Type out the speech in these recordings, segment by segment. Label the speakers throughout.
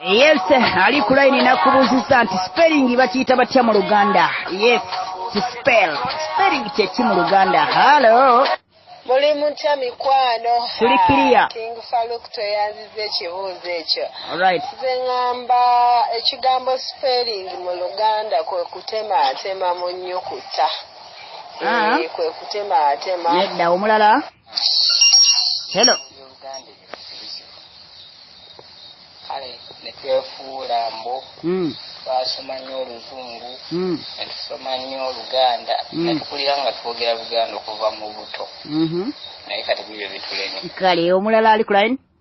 Speaker 1: Yes, ali ku line nakubuuzizza nti spelling bakiyita batya mu Luganda? Yes, to spell. Spelling kye ki mu Luganda? Hello. Muli
Speaker 2: mutya mikwano? Tuli kiriya. Ah,
Speaker 1: King Farouk
Speaker 2: tweyanziza ekibuuzo ekyo. All right. Nze
Speaker 1: ngamba
Speaker 2: ekigambo spelling mu Luganda kwe kutema atema mu nnyukuta. Ah. Eh, kwe kutema atema. Nedda omulala.
Speaker 1: hello
Speaker 3: kale netwefuula mbu hmm. twasoma nnyo oluzungu hmm. netusoma nnyo oluganda hmm. netukulira nga twogera luganda okuva mu buto mm-hmm. naye kati bibyo bitulemye kale omulala ali
Speaker 1: kulaini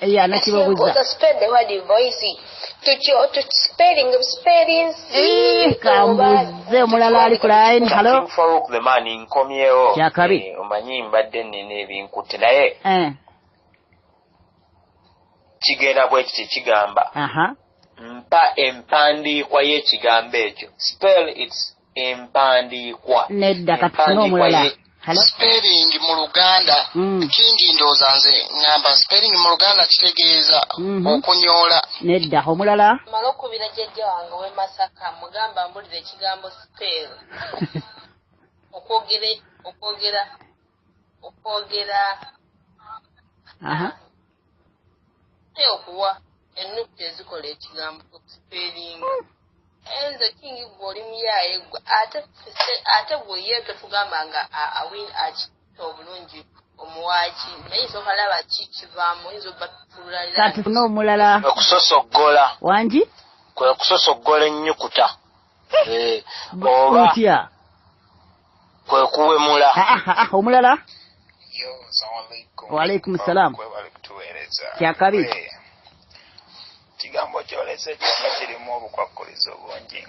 Speaker 2: eyo anakibabuza
Speaker 1: kambuze omulala ali ku line halo
Speaker 4: kyakabi eh, omanyi
Speaker 1: mbadde
Speaker 4: nina ebinkutte naye eh. kigenda bwekiti kigamba mpa empandiikwa y'ekigambo ekyo spell its empandiikwa nedda kati
Speaker 1: tuna omulala spelling
Speaker 5: mu luganda mm. kingi ndooza nze ngamba spelling mu luganda kitegeeza mm -hmm. okunyoola nedda omulala
Speaker 1: mala okubira jjajja
Speaker 2: wange we masaka mugamba mbulira ekigambo spell okwogera okwogera okwogera naye okuwa ennukta ezikola ekigambo okusipeeringa naye nze kingi gwe oli muyaaye gwe ate ate gwe ye totugamba nga awin akita obulungi omuwaaki naye nsooka laba ki kivaamu oyinza obatutululaatufune omulala
Speaker 1: okusosoggola
Speaker 4: wangi
Speaker 1: kwe kusosoggola
Speaker 4: ennyukuta eh, oba kwe kuwemula ah, ah, ah, omulala
Speaker 5: waalaikum
Speaker 1: salaam kyakabi
Speaker 5: kigambo kyolese kyona kirimu obukwakkulizo bungi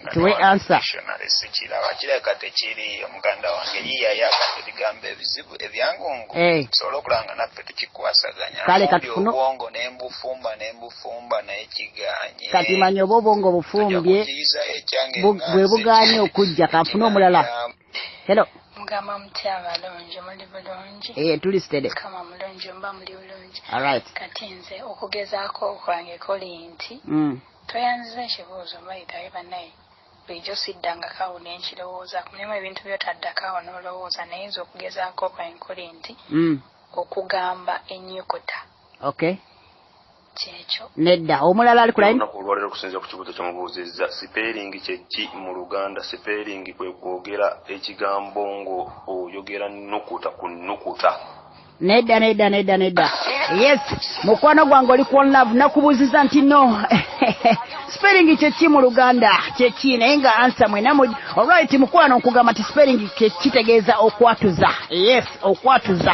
Speaker 5: ngasikiraba kireka tekiri omuganda wange yiyayaka ebigambo ebizibu ebyangungu tusobole okulaba nga naffe tukikwasaganya kale katufuna
Speaker 1: obwongo nembufumba
Speaker 5: nembufu fumba naye kiganye kati manya oba obwongo
Speaker 1: bufumbye bwe buganye okujja kanfuna omulala helo mugamba mutya
Speaker 6: abalungi muli bulungi ee eh, tuli sitede kama
Speaker 1: mulungi mba
Speaker 6: muli bulungi alright kati
Speaker 1: nze
Speaker 6: okugezaako okwange kuli nti mm. toyanziza ekibuuzo mbayitaye banaye bulijjo siddangako awo ne nkirowooza kulimu ebintu byotaddako awo n'olowooza naye nze okugezaako kwange kuli nti mm. okugamba ennyukuta okay kyekyo nedda omulala
Speaker 1: ali kulayi olunaku olwalero okusinzira ku kibuuzo
Speaker 7: kyemubuuzizza sipeeringi kyeki mu luganda sipeeringi kwe kwogera ekigambo ngo oyogera nukuta ku nukuta nedda nedda
Speaker 1: nedda nedda yes mukwano gwange oli ku onlove nakubuuziza nti no sipeeringi kyeki mu luganda kyeki naye nga ansa mwena mu olwait mukwano nkugamba nti sipeeringi kitegeeza okwatuza yes okwatuza